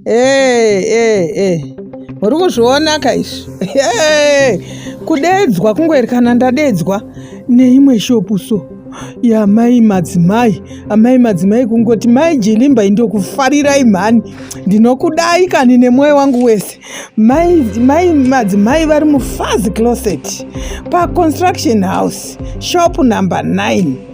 Hey, hey, hey. Muri kuzviona ka izvi? Hey, kudeedzwa kungoerekana ndadeedzwa neimwe shopu so yamai madzimai amai madzimai kungoti mai jilimbai ndokufarirai mhani ndinokudai kani nemwoyo wangu wese mai, mai madzimai vari mufazi closet paconstruction house shop number 9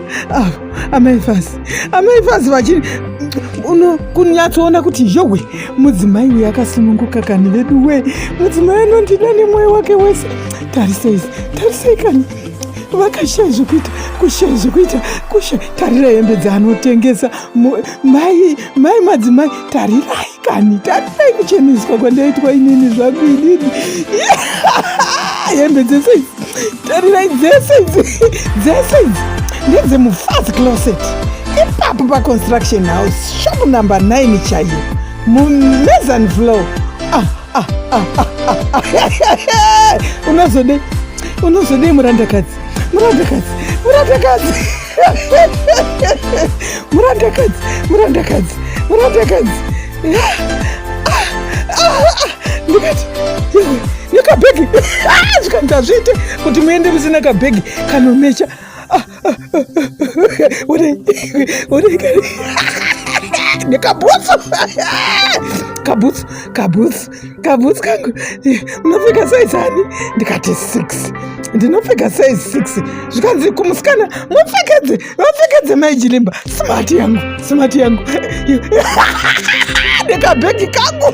Ah, amai fazi amai fazi vachiri uno kunyatsoona kuti yowe mudzimai uyu akasununguka kani vedu we mudzimai anondida nemwoyo wake wese tarisei tarisei kani vakashaya zvekuita kushaya zvekuita kushaya tarira hembe dzaanotengesa mai mai madzimai tarirai kani tarirai kucheneswa kwandaitwa inini zvangu inini hembe dzese idzi tarirai dzese idzi dzese idzi ndedzemufazi closet ipapo paconstruction house shop number 9 chaiyo mumezan flow ah, ah, ah, ah, ah, ah. unozodei unozodei murandakadzi murandakadzi murandakadzi murandakadzi murandakadzi murandakadzi ndikati nekabhegi zvikanzi hazviite kuti muende musina kabhegi kanomecha nekabhutsu kabhutsu kabhutsu kabhutsu kangu munopfeka saizi ani ndikati six ndinopfeka saizi six zvikanzi kumusikana mupfekedze vapfekedze maijilimba smart yangu smart yangu ndikabhegi kangu